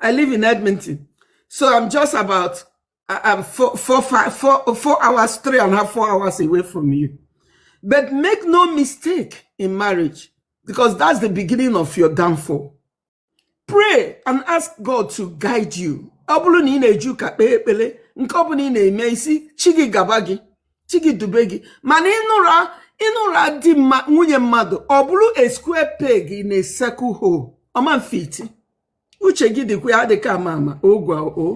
I live in Edmonton. So I'm just about uh, I'm four, four, five, four, four hours, three and a half, four hours away from you. But make no mistake in marriage, because that's the beginning of your downfall. Pray and ask God to guide you. Ọ bụrụ na ị na-eje ụka kpee ekpere nke ọ bụla ị na-eme ị sị chi gị gaba gị chi gị dube gị mana ị nụrụ ị nụrụ di ma nwunye mmadụ ọ bụrụ a square peg in a circle hole ọ ma fit uche gị dịkwa ya adịka ama ama ogwa o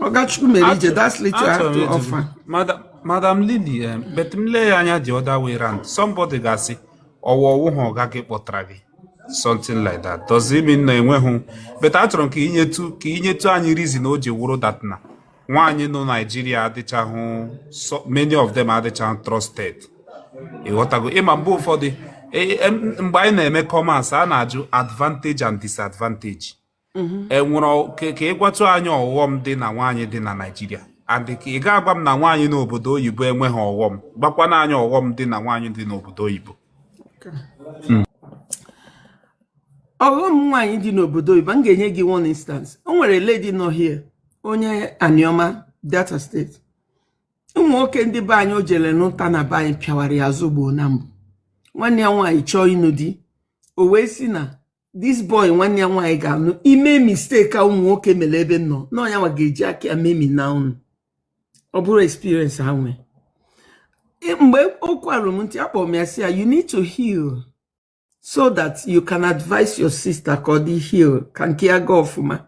ọgachukwu mere ije that's little I have to offer madam madam lily eh, but m lee ya anya the other way round somebody ga-asị ọwa ọ wụ ha ọga gị kpọtara gị something like that does it mean na enweghị but achọrọ m ka i nyetu ka i nyetu anyị reason o ji wụrụ that na nwaanyị nọ Naịjirịa adịchahụ many of them adịchahụ trusted ị ghọtago ị ma mgbe ụfọdụ e, e, mgbe anyị na-eme commerce a na-ajụ advantage and disadvantage mm-hmm. e nwere ka ị gwatụ anyị ọghọm dị na nwaanyị dị na Naịjirịa adị ka ị ga-agwa m na nwaanyị n'obodo oyibo enweghị ọghọm gwakwanụ anyị ọghọm dị na nwaanyị dị n'obodo oyibo hmm. ọghọm nwaanyị dị n'obodo oyibo m ga-enye gị one instance o nwere lady nọ here onye Aniọma Delta State ụmụ nwoke ndị be anyị o jere nụta na be anyị pịawara ya azụ gboo na mbụ nwanne ya nwaanyị chọọ ịnụ di o wee si na this boy nwanne ya nwaanyị ga-anụ i mee mistake a ụmụ nwoke mere ebe m nọ na ọ nya nwa ga-eji aka ya memina unu ọ bụrụ experience ha nwee E- mgbe okwu a ruru m ntị akpọrọ m ya si ya you need to heal so that you can advise your sister ka ọ dị heal ka nke ya gaa ọfụma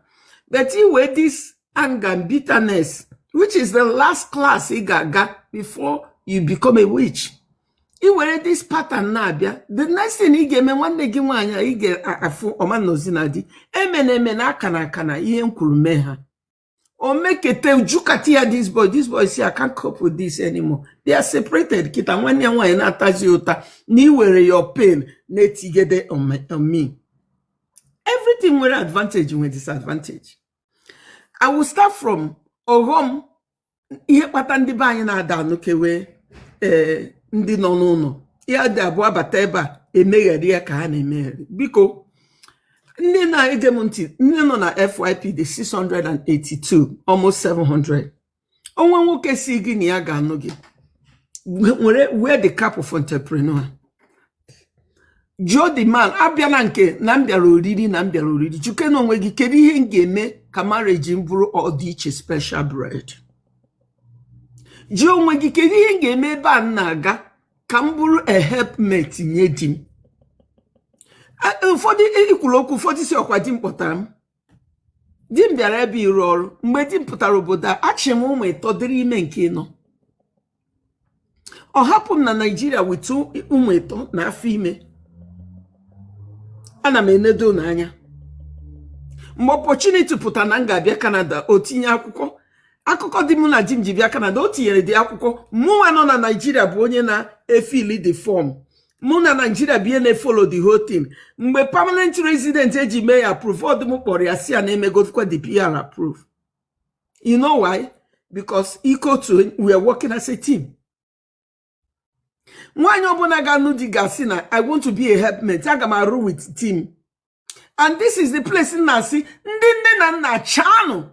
but i were this anger and bitterness which is the last class ị ga-aga before you become a witch i were this pattern na-abịa the next thing ị ga-eme nwanne gị nwaanyị a ị ga-afụ ọ ma nọzi na di emena emena akana akana ihe m kwuru mee ha o mekete jukati ya this boy this boy si I can't cope with this anymore they are separated kịta nwanne ya nwaanyị na-atazi ụta na i were your pain na-etigede on me everything nwere advantage nwere disadvantage I will start from ọghọm ihe kpata ndị be anyị na-ada anụkewe ee eh, ndị nọ n'ụlọ ha dị abụọ bata ebe a emegheri ya ka ha na-emegheri biko ndị na-ege m ntị ndị nọ na FYP dị 682 almost 700 o nwee nwoke si gị na ya ga-anụ gị were wear the cap of entrepreneur jụọ the man abịana nke na m bịara oriri na m bịara oriri jụkene onwe gị kedu ihe m ga-eme ka marriage m bụrụ ọdịiche special breed jụọ onwe gị kedu ihe m ga-eme ebe a m na-aga ka m bụrụ a helpmate nye di m A- ụfọdụ ikwuru okwu ụfọdụ si ọkwa di m kpọtara m di m bịara ebe a ịrụ ọrụ mgbe di m pụtara obodo a achị m ụmụ ịtọ dịrị ime nke ịnọ ọ hapụ m na naijiria with ụmụ ịtọ na afọ ime ana m enedo ụnọ anya mgbe opportunity pụtara na m ga-abịa kanada o tinye akwụkwọ akụkọ di mụ na jim ji bịa kanada o tinyeredị akwụkwọ mụnwa nọ na naijiria bụ onye na-efill the form mụ na naijiria bụ onye na-efollow the whole thing mgbe permanent resident eji mee ya approve ọ bụ m kpọrọ ya si ya na emegodikwa the PR approve you know why because ike otu we are working as a team nwaanyị ọbụla ga-anụ di ga-asị na i want to be a helpmate aga m arụ with team and this is the place m na-asị ndị nne na nna chaanụ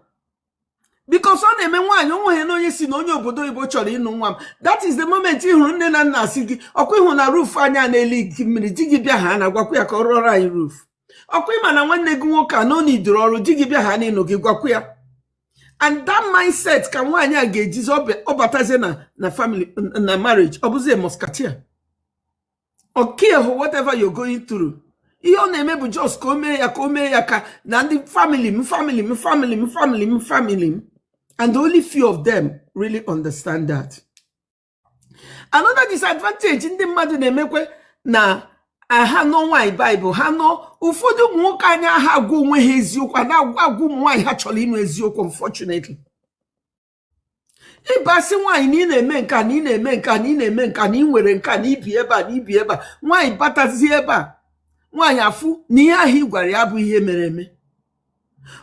because ọ na-eme nwaanyị onweghị na onye si na onye obodo oyibo chọrọ ịnụ nwa m that is the moment ị hụrụ nne na nna si gị ọkwa ịhụ na roof anyị na-eleak mmiri di gị bịa ha na-agwakwa ya ka ọ rụọrọ anyị roof ọkwa ịma na nwanne gị nwoke a na ọ na-idoro ọrụ di gị bịa ha n'ịnụ gị gwakwa ya and that mindset ka nwaanyị a ga-ejizi ọ batazie na na family na marriage ọ bụzi musketeer ọ carehụ whatever you're going through ihe ọ na-eme bụ just ka o mee ya ka o mee ya ka na ndị family m family m family m family m family m and only few of them really understand that. another disadvantage ndị mmadụ na-emekwe na ha nọ nwaanyị baịbụl ha nọ ụfọdụ ụmụ nwoke anaha agwa onwe ha eziokwu anaha agwa ụmụ nwaanyị ha chọrọ ịnụ eziokwu unfortunately ị ga-asị nwaanyị na ị na-eme nka na ị na-eme nka na ị na-eme nka na ị nwere nka na i bi ebe a na i bi ebe a nwaanyị batazie ebe a nwaanyị afụ na ihe ahụ ị gwara ya abụhụ ihe mere eme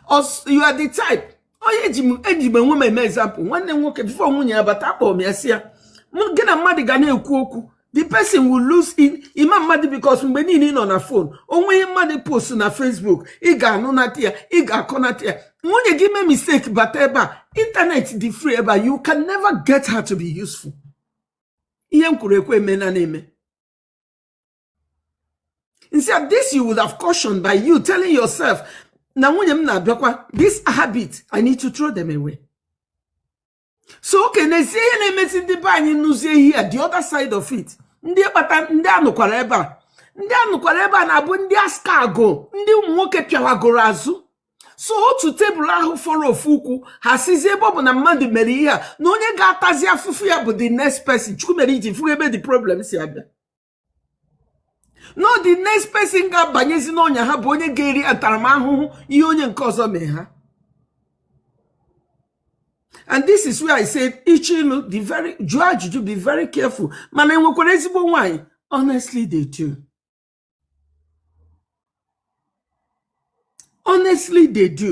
Ọs- you are the type onye eji m eji m onwe m eme example nwanne m nwoke before nwunye ya bata akpọrọ m ya si ya mụ gị na mmadụ ga na-ekwu okwu the person will lose in ima mmadụ because mgbe niile ị nọ na phone o nwee ihe mmadụ post na facebook ị ga-anụ nata ya ị ga-akọ nata ya nwunye gị mee mistake bata ebe a internet dị free ebe a you can never get her to be useful ihe m kwuru ekwu eme na na-eme instead this you would have cautioned by you telling yourself na nwunye m na-abịakwa this habit i need to throw them away so okay n'ezie ihe na-emezi ndị be anyị nụzie ihe a the other side of it ndị kpata ndị anụkwara ebe a ndị anụkwara ebe a na-abụ ndị askago ndị ụmụ nwoke pịawagoro azụ so otu tebụl ahụ fọrọ ofu ụkwụ ha sizie ebe ọ bụ na mmadụ mere ihe a na onye ga-atazi afụfụ ya bụ the next person chukwu mere ị ji fụrụ ebe the problem si abịa no the next person ga-abanyezi n'ọnya ha bụ onye ga-eri ntaramahụhụ ihe onye nke ọzọ mee ha and this is where i said ịchọ ịlụ be very jụọ ajụjụ be very careful mana enwekwara ezigbo nwanyị honestly they do honestly they do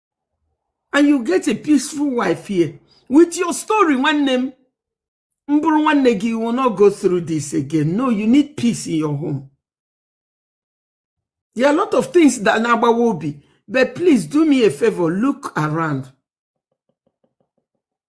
and you get a peaceful wife here with your story nwanne m m bụrụ nwanne gị will not go through this again no you need peace in your home there are a lot of things that na-agbawa obi but please do me a favor look around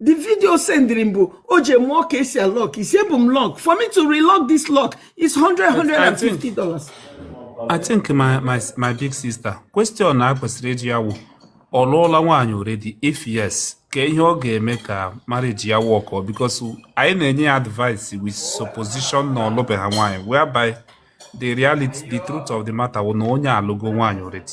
the video sendiri m bụ o ji mụọ ka e si alock isi ebu m lock for me to relock this lock is 100 150 dollars I think my, my, my big sister question a kwesịrị ịjụ ya wụ ọ lụọla nwaanyị already if yes ka ihe ọ ga-eme ka marriage ya wọkọ because anyị na-enye ya advice with supposition na ọ lụbeghị nwaanyị whereby the reality the truth of the matter wụ na onye a alụgo nwaanyị already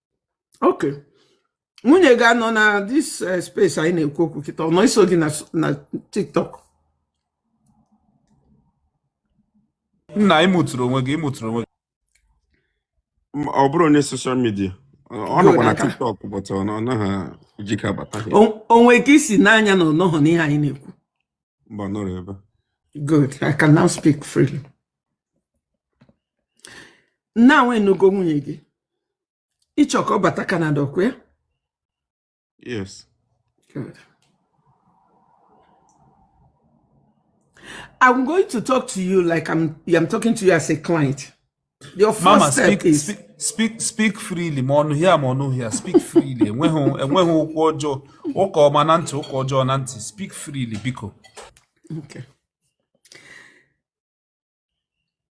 ok nwunye gị anọ na this eh, space anyị na-ekwu okwu kịta ọ na-eso gị na tiktok nna ịmụtụrụ onwe gị ịmụtụrụ onwe gị ọ bụrụ onye social media ọ nọkwa na tiktok but ọ naghị ejike abata o nwe ka i si n'anya na ọ nọghọ n'ihe anyị na-ekwu mba nọrọ ebe good i can now speak freely now ị nụgo nwunye gị ị chọ ka ọ bata Canada ọ kwa ya yes good I'm going to talk to you like I'm I'm talking to you as a client your first Mama, step speak, is speak, speak speak freely ma ọ nọ here ma ọ nọ here speak freely enweghị enweghị okwu ọjọọ ụka ọma na ntị ụka ọjọọ na ntị speak freely biko okay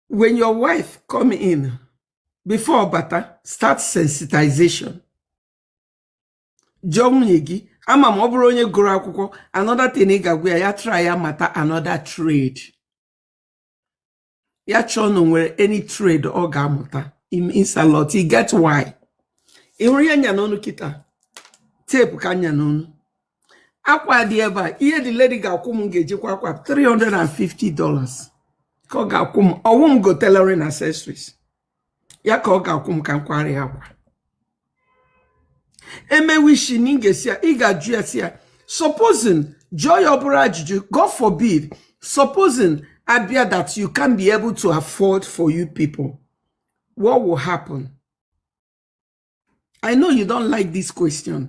when your wife come in before ọ bata start sensitization jụọ nwunye gị ama ma ọ bụrụ onye gụrụ akwụkwọ another thing ị ga-agwa ya ya try ya mata another trade ya chọọ na nwere any trade ọ ga-amụta it means a lot e get why ị hụrụ ya nya n'ọnụ kịta tepu ka nya n'ọnụ akwa dị ebe a ihe the lady ga-akwụ m ga-eji kwaa akwa 350 dollars ka ọ ga-akwụ m ọ wụ m go tailoring accessories ya ka ọ ga-akwụ m ka m kwara ya akwa emewishi na ị ga-asị ya ị ga-ajụ ya sị ya supposing jụọ ya ọ bụrụ ajụjụ god forbid supposing a bịa that you can't be able to afford for you people what will happen i know you don't like this question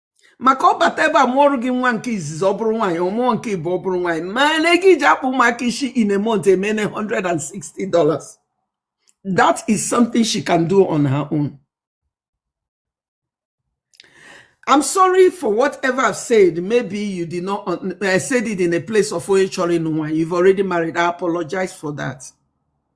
maka ọ bata ebe a mụọrọ gị nwa nke izizi ọ bụrụ nwaanyị ọ mụọ nke ịbụọ ọ bụrụ nwaanyị mana ego e ji akpa ụmụaka isi in a month emene 160 dollars that is something she can do on her own I'm sorry for whatever I've said. Maybe you did not, I said it in a place of onye chọrọ ịnụ nwaanyị. You've already married. I apologize for that.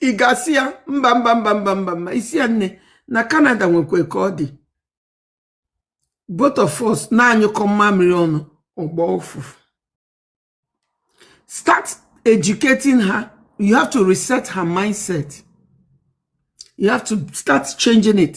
ị ga-asị ya mba mba mba mba mba mba ị sị ya nne na Canada nwekwa ka ọ dị both of us na-anyụkọ mmamịrị ọnụ ọ gbọọ ụfụfụ start educating her you have to reset her mindset you have to start changing it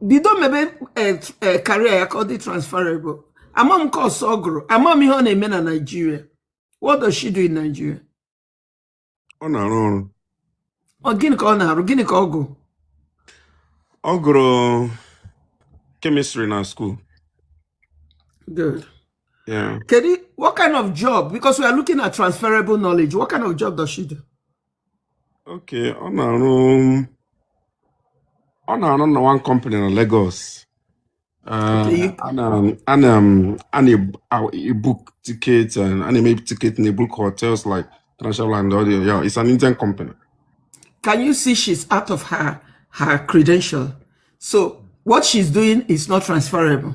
bido mebe career eh, eh, ya ka ọ dị transferable ama m course ọ gụrụ ama m ihe ọ na-eme na Naịjirịa what does she do in Nigeria ọ na-arụ ọrụ ọ gịnị ka ọ na-arụ gịnị ka ọ gụ ọ gụrụ kemistri na skuul good yeah kedu what kind of job because we are looking at transferable knowledge what kind of job does she do Okay, ọ na-arụ ọ na-arụ na one company na Lagos. Uh, Okay. a na a na a na-ebook tickets and a na-eme ticket na ebook hotels like International and all the yeah, it's an Indian company. Can you see she's out of her her credential? So what she's doing is not transferable.